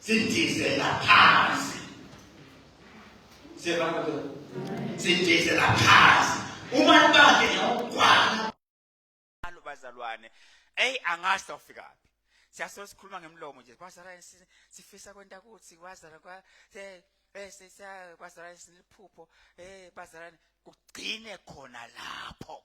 sidizela phansi siyabona sidizela phansi uma libande ngiyawugwala alo bazalwane eyi angazi sawufikaphi siyasolo sikhuluma ngemlomo nje kwazala sifisa kwenta kuthi kwazala kwa bese eh, kwazala siliphupho eh bazalane kugcine khona lapho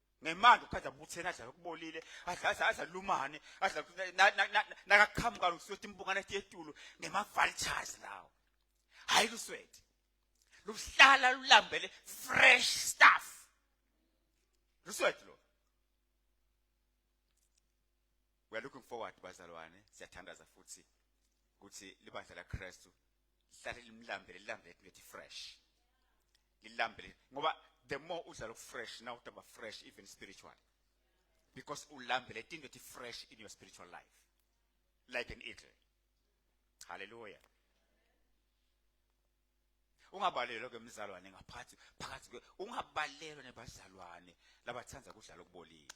ngemanje ukhathi abuthene adla lokubolile adla adla adla lumane adla nakaqhamuka lokusiyothi imbungane ethi etulo ngema-vultures lawo hhayi luswethi luhlala lulambele fresh stuff luswethi lo we are looking forward bazalwane siyathandaza futhi ukuthi libandla lakristu lihlale limlambele lilambele into ethi fresh lilambele ngoba the more udlala ukufresh now utaba fresh even spiritually because ulambele into ethi fresh in your spiritual life like an eagle hallelujah ungabalelwa ke mzalwane ngaphathi phakathi ke ungabalelwa nebazalwane labathanda kudlala okubolile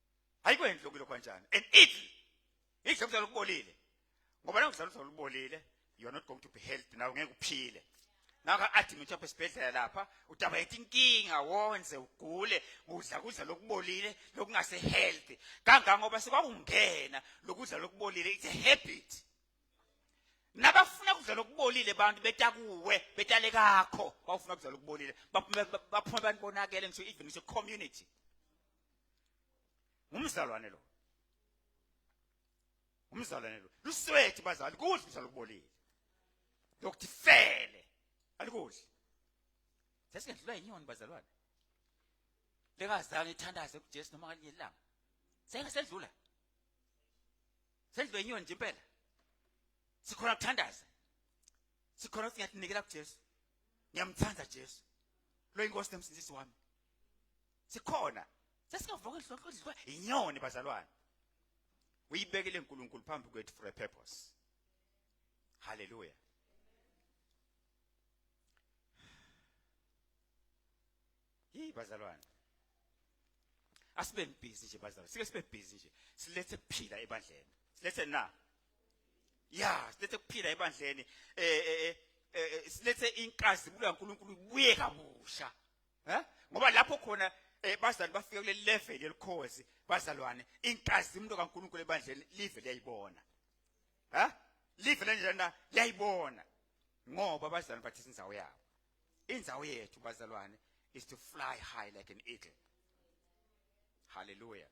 ayikwenzi lokhu lokho kanjani and it yisho ukuzala ukubolile ngoba la ngizala uzala ubolile you are not going to be healthy nawe ngeke uphile naka athi ngithi apha esibhedlela lapha udaba yethi inkinga wonze ugule udla kudla lokubolile lokungase healthy kangangoba sekwakungena lokudla lokubolile it's a habit nabafuna kudla lokubolile abantu betakuwe betale kakho bawufuna kudla lokubolile baphume baphume abantu bonakele ngisho even ngisho community ngumzalwane lo umzalwane lo luswethi bazali kudla umzalo kubolile lokuthi fele alikudli sesingendlula yinyoni bazalwane lengazange ithandaze kuJesu noma ngalinye ilanga sengasedlula sendlula inyoni nje impela sikhona kuthandaza sikhona ukuthi ngiyatinikela kuJesu ngiyamthanda Jesu lo inkosi nemsindisi wami sikhona sesingavuka inhlonhlo idliwa inyoni bazalwane uyibekele uNkulunkulu phambi kwethu for a purpose haleluya Hey bazalwane. Asibe busy nje bazalwane. Sike sibe busy nje. Silethe kuphila ebandleni. Silethe na. Yeah, silethe kuphila ebandleni. Eh eh eh, eh, eh silethe inkazimulo kaNkuluNkulu ibuye kabusha. he ngoba lapho khona eh bazali bafike kule level yelikhozi bazalwane inkazimulo kaNkuluNkulu ebandleni live liyayibona he live lenjena liyayibona ngoba bazalwane bathi inzawo yabo inzawo yethu bazalwane is to fly high like an eagle hallelujah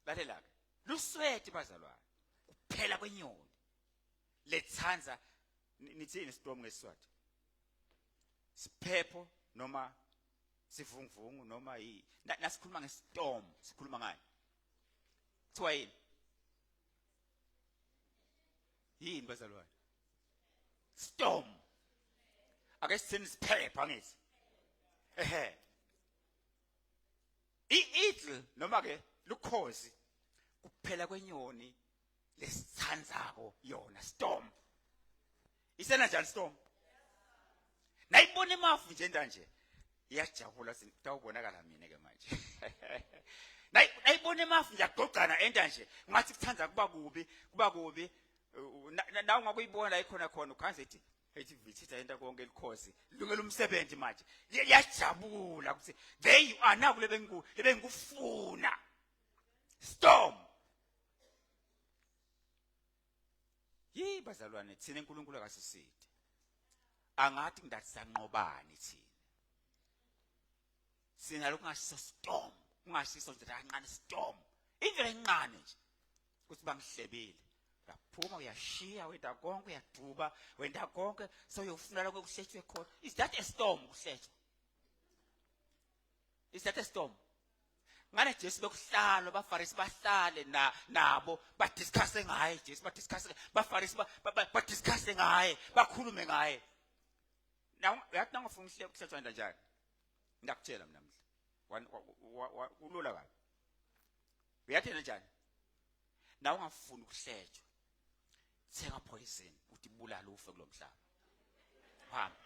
lalela ke lusweti bazalwane kuphela kwenyoni lethanda nithini storm ngesizathu siphepho noma sivunguvungu noma yi nasikhuluma ngestorm sikhuluma ngani kuthiwa yini yini bazalwane storm ake sithini siphepha ngithi ehe i-idle noma ke lukhozi kuphela kwenyoni lesithandzako yona storm isena njani storm nayibona imafu nje ndanje iyajabula sitawubonakala mina ke manje nayibona imafu ngiyagqogcana enta nje ngathi kuthanda kuba kubi kuba kubi nawe ngakuyibona la ikhona khona ukhanze ethi ethi vithitha into konke likhosi lungela umsebenzi manje yajabula ukuthi there you are naku lebengikufuna storm Yi bazalwane thina uNkulunkulu akasiside. Angathi ngidasanqobani thina. Sina lokungashisa storm, kungashisa nje kancane storm. Indlela encane nje. Kuthi bangihlebile. Uyaphuma uyashiya wenda konke uyaduba wenda konke soyofunela kokuhletshwe khona. Is that a storm kuhletshwa? is that a storm ngane Jesu bekuhlalo bafarisi bahlale na nabo ba discuss ngaye Jesu ba discuss bafarisi ba, ba, ba, ba discuss ngaye bakhulume ngaye now uyathi nangofuna uhlelo kuhlethwa kanjani ngiyakutshela mina mhla kulula kabi uyathena njani nawe ungafuni ukuhletshwa thenga poison uthi bulala ufe kulomhlaba hamba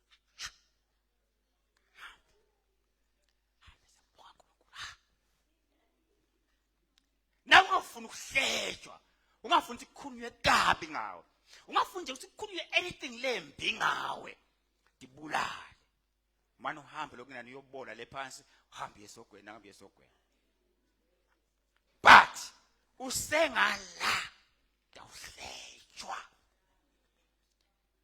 nawe ungafuni ukuhlejwa ungafuni ukuthi kukhulunywe kabi ngawe ungafuni nje ukuthi kukhulunywe anything lembi ngawe ndibulale mane uhambe lokunani uyobona le phansi uhambe yesogweni ahambe yesogweni but usengala ndawuhlejwa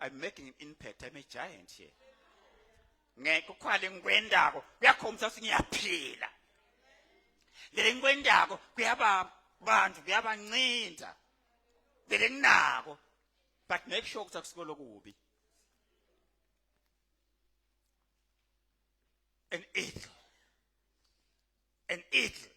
I'm making an impact. I'm a giant here. Ngeke ukhwale ngikwendako kuyakhombisa ukuthi ngiyaphila. Lele ngikwendako kuyaba bantu kuyabancinda. Lele nginako but make sure ukuthi akusiko lokubi. An eagle. An eagle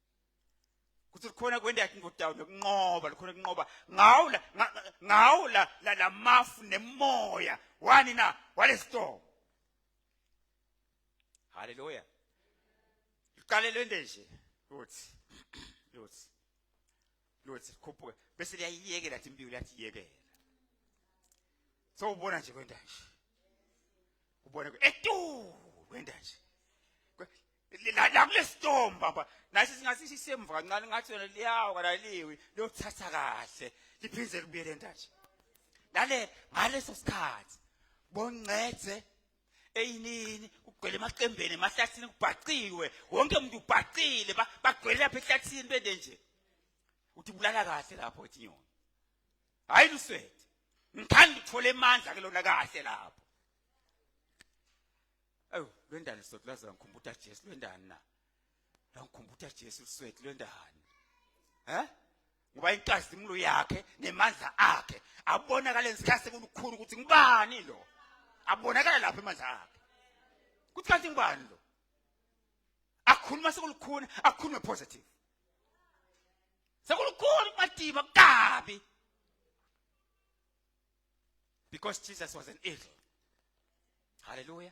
kuthi likhona kwenda yakhe ingodawu nokunqoba likhona kunqoba ngawo la ngawo la lamafu nemoya wani na walestorm haleluya liqalelwe nje uthi uthi lothi khuphuka bese liyayiyekela athi imbiwu lathi yekela so ubona nje kwenda nje ubona etu kwenda nje la la kulestorm baba nasi singathi sisemva kancane ngathi yona liyawa kalaliwi liyothatha kahle liphinde kubuyele ndathi lale ngaleso sikhathi bongcedze eyinini kugcwele emaqembeni emahlathini kubhaciwe wonke umuntu ubhacile bagcwele lapha ehlathini bende nje uthi bulala kahle lapho ethi nyoni hayi luswethe ngithanda uthole amandla ke lona kahle lapho awu lwendani sothi laza ngikhumbuta Jesu lwendani na Ngikhumbuta Jesu liswethu lwendani. He? Ngoba inkazimulo yakhe nemandla akhe abonakala ngesikhathi sekukhulu ukuthi ngibani lo. Abonakala lapha emandla akhe. Kuthi kanti ngibani lo? Akhuluma sekulukhuni, akhulume positive. Sekulukhuni madiba kabi. Because Jesus was an eagle. Hallelujah.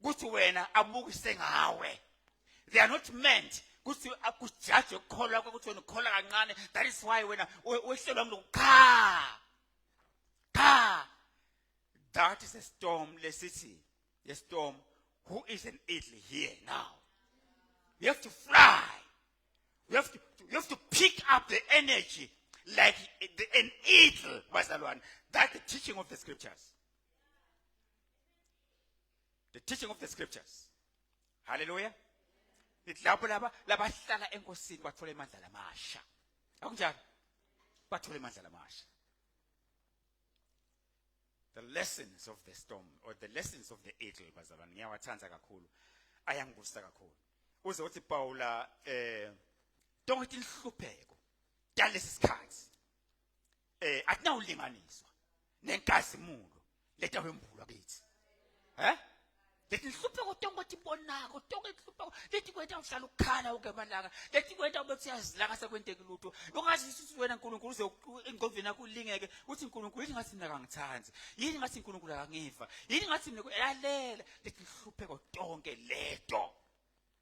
ukuthi wena abukise ngawe they are not meant ukuthi akujaje ukukholwa kokuthi wena ukholwa kancane that is why wena wehlelwa mntu qha qha that is a storm lesithi a storm who is an idle here now you have to fly you have to, you have to pick up the energy like an eagle bazalwane that's the teaching of the scriptures the teaching of the scriptures haleluya ngithi lapho laba labahlala enkosini bathola imandla lamasha akunjalo bathola imandla lamasha the lessons of the storm or the lessons of the eagle bazalwane ngiyawathanda kakhulu ayangibusa kakhulu uze uthi Paula eh tonke inhlupheko dalesi sikhathi eh akunawulinganiswa nenkazimulo leta wembulwa kithi eh lethi nhlupheko tonke ukuthi bonako tonke nhlupheko lethi kwenta uhlala ukukhala uke malanga lethi kwenta ube siyazilaka sekwenteki lutho ungazi ukuthi wena uNkulunkulu uze engqondweni yakho ulingeke uthi uNkulunkulu yini ngathi mina kangithandi yini ngathi uNkulunkulu akangiva yini ngathi mina yalela lethi nhlupheko tonke leto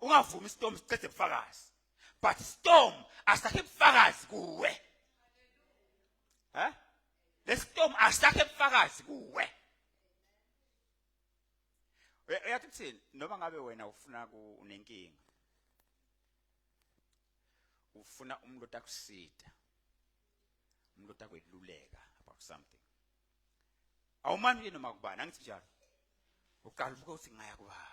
ungavumi istorm siqede ubufakazi but storm asakhe ubufakazi kuwe ha lestorm asakhe ubufakazi kuwe uyathi kuthini noma ngabe wena ufuna kunenkinga ufuna umuntu otakusida umuntu otakweluleka about something awumani nje noma kubani angithi njalo uqala ubuke ukuthi ngaya kubani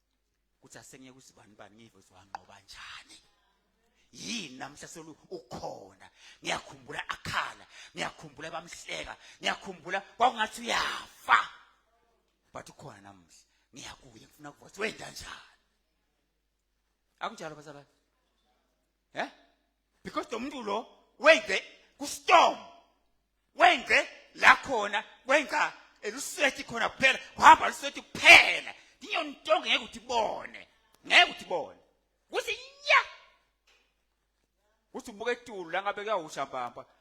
kuthi asengeke usibani bani ngive ukuthi wanqoba njani yini namhla solu ukhona ngiyakhumbula akhala ngiyakhumbula bamhleka ngiyakhumbula kwakungathi uyafa but ukhona namhla ngiyakuye ngifuna kuva ukuthi wenda njani akunjalo bazalwane he eh? because lo muntu lo wenze kustorm wenze la khona wenza eluswethi khona kuphela wahamba luswethi kuphela ndiyontonga ngeke ukuthi bone ngeke ukuthi bone kuthi ya kuthi ubuka etulu la ngabe kuyawusha mpampa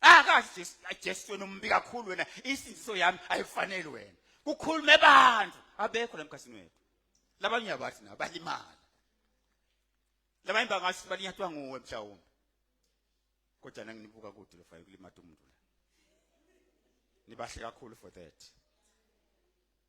Ah kahle Jesu, ah, Jesu wena umbi kakhulu wena. Isindiso yami ayifanele wena. Kukhulume abantu abekho lamkhasini wethu. Labanye uyabathi na balimala. Labanye bangathi balinyatwa nguwe mhlawumbe. Kodwa nanginibuka kude lofana kulimata umuntu la. Nibahle kakhulu for that.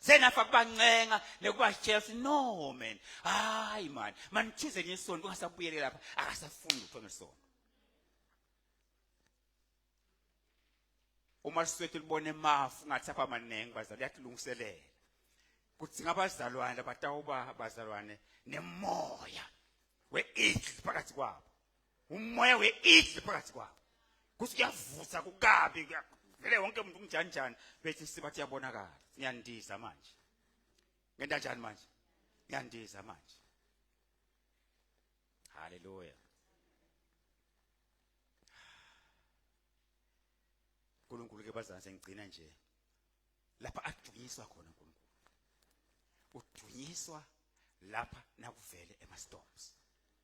senafa kubancenga nekubashela ukuthi no man hayi mani manithuze nje isonto kungasabuyele lapha akasafuni lutho ngesonto uma siswethu libone mafu ngathi apha maningi bazali yatilungiselela kuthi ngabazalwane abatawuba bazalwane nemoya we-eagle phakathi kwabo umoya we-idli phakathi kwabo kuthi kuyavusa kukabi vele wonke umuntu umnjanjani bethi sibathi yabonakala ngiyandiza manje ngenta njani manje ngiyandiza manje haleluya uNkulunkulu ke bazana sengigcina nje lapha adunyiswa khona uNkulunkulu udunyiswa lapha nakuvele ema storms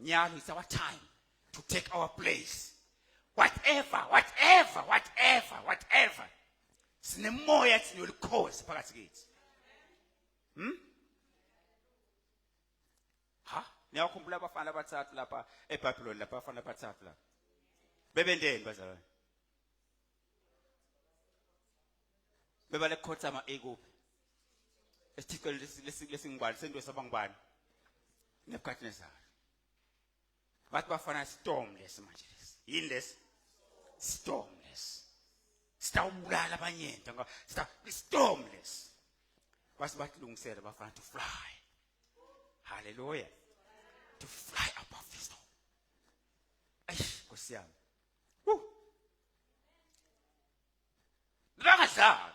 Nyalo, it's our time to take our place. Whatever, whatever, whatever, whatever. Sinemoya ethi nolikhosi phakathi kithi. Hmm? Ha? Niyakhumbula abafana abathathu lapha eBhabhiloni lapha abafana abathathu lapha. Bebendeni bazalwane? bebale khothama ekuphi esithixo lesingubani sento sabangubani nebukadnezar bathi bafana storm lesi manje lesi yini lesi storm lesi sitawubulala abanyento ngoba storm lesi base bakulungisela bafana to fly haleluya to fly above the storm eish nkosiyami Bangadlali.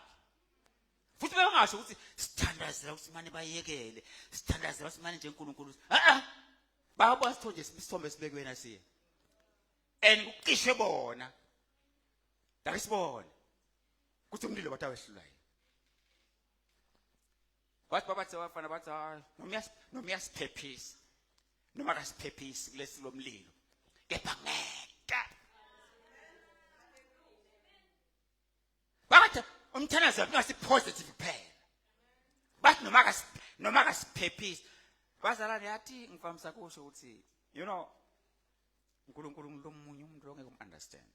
Futhi bengasho ukuthi sithandazela ukuthi manje bayekele, sithandazela ukuthi manje nje uNkulunkulu. Ah ah. Bayabona sithonje isithombe esibekwe na siya. And kucishe bona. Dake sibone. Kuthi umlilo wathi awehlulayo. wathi babathe abafana bathi hayi noma uyasiphephisa noma akasiphephisi kulesi lomlilo kepha ngeke bathi umthandazo wakhe positive kuphela bathi noma noma akasiphephisi bazalwane yathi ngifamisa kusho ukuthi you know uNkulunkulu umuntu omunye umuntu ongeke umunderstand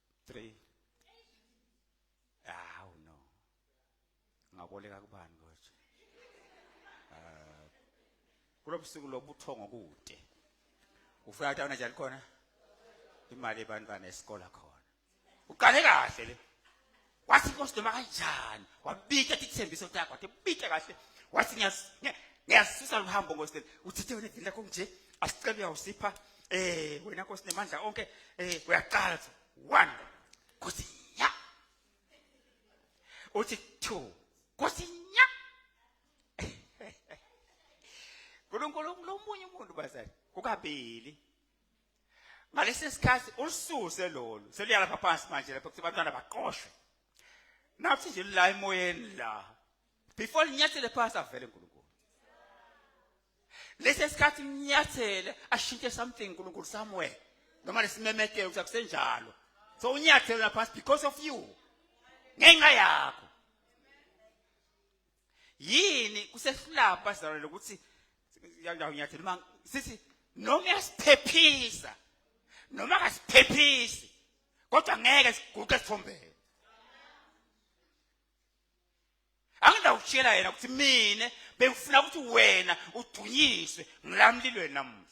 3 awu no ngaboleka kubani kodwa ah kulobusuku lobuthongo kude ufika ukuthi awunajali khona imali ebantwana esikole khona uqale kahle le wathi inkosi noma kanjani wabika athi ithembiso takho athi bike kahle wathi ngiyasisusa luhambo nkosi uthithe wena idini lakho nje asicela uyawusipha eh wena nkosi nemandla onke eh uyaqala one nkosi nya uthi two nkosi nya uNkulunkulu lomunye umuntu bazali kukabili ngalesi sikhathi ulususe lolu seluyalapha phansi manje lapho kuthi abantwana baqoshwe nathi nje la emoyeni la before linyathele phansi avele uNkulunkulu lesi sikhathi unyathele ashintshe something uNkulunkulu somewhere noma lesimemetheke ukuthi akusenjalo so unyathele lapha because of you ngenxa yakho yini kusehlula pastor lokuthi ngiyakunyathela uma sithi noma uyasiphephisa noma akasiphephisi kodwa ngeke siguqe sithombele angindawushela yena ukuthi mina bengifuna ukuthi wena udunyiswe ngilamlilweni namuhla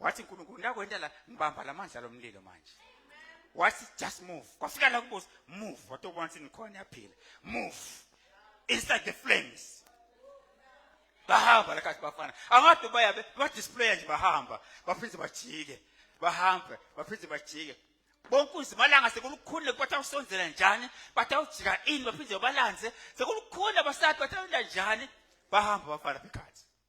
wathi nkulunkulu ndakwenta la ngibamba la mandla lomlilo manje wathi just move kwafika la kubuza move watobona ukuthi nikhona yaphila move inside the flames bahamba lakathi bafana angade bayabe badisplaya nje bahamba baphinde bajike bahambe baphinde bajike bonke uzimalanga sekulukhulu bathi awusonzela njani bathi awujika ini baphinde balanze sekulukhulu abasati bathi awula njani bahamba bafana phikhathi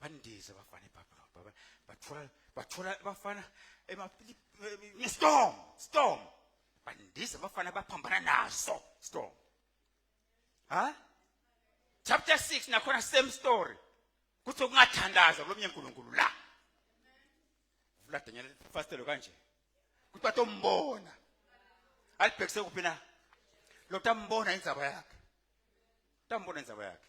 bandize abafana ebabylon baba bathola bathola abafana storm storm bandize abafana baphambana naso storm ha chapter 6 nakhona same story kuthi kungathandaza kulomnye uNkulunkulu la vula Daniel fastelo kanje kuthi batombona alibhekise kuphi na lo tambona indzaba yakhe tambona indzaba yakhe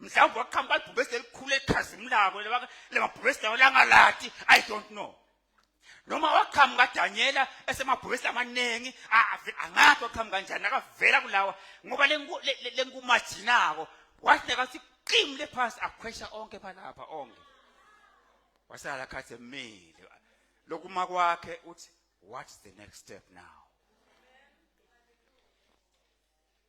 mhlawumbe waqhamba ibhubesi elikhulu elikhazimulako lemabhubesi lawo langalati i don't know noma waqhamuka danyela esemabhubesi amaningi angathi waqhamuka kanjani akavela kulawa ngoba lenkumajinako wathi nekathi qim le phasi akhwesha onke phalapha onke wasala khathi emile lokuma kwakhe uthi what's the next step now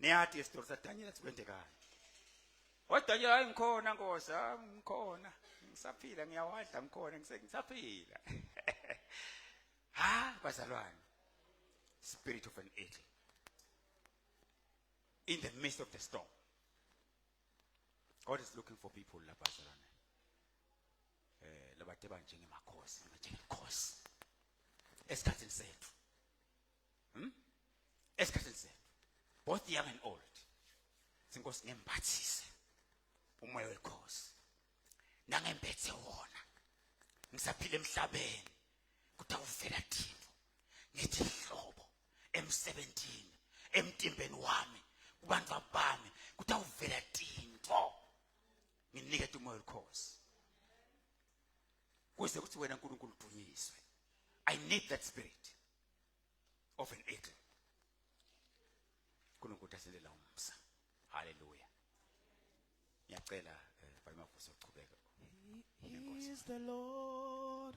niyati isitori sadanyela sikwentekayo wadanyela hayi ngikhona nkosi ah, ngikhona ngisaphila ngiyawadla ngikhona ngisaphila ha bazalwane spirit of an eagle in the midst of the storm god is looking for people labazalwane eh labathe banjengemakhosi njengenkosi esikhathini sethu Hmm? Esikhathini sethu. Both young and old. Sinkosi ngembathise umoya wekhosi. Nangembethe wona. Ngisaphila emhlabeni. Kuthi awuvela thina. Ngithi hlobo emsebenzini, emtimbeni wami, kubantu abami, kuthi awuvela tinto. Nginike umoya wekhosi. Kuze kuthi wena uNkulunkulu udunyiswe. I need that spirit. of an eagle uNkulunkulu asilela umsa haleluya ngiyacela eh, bayimafuse ukuchubeka he is the lord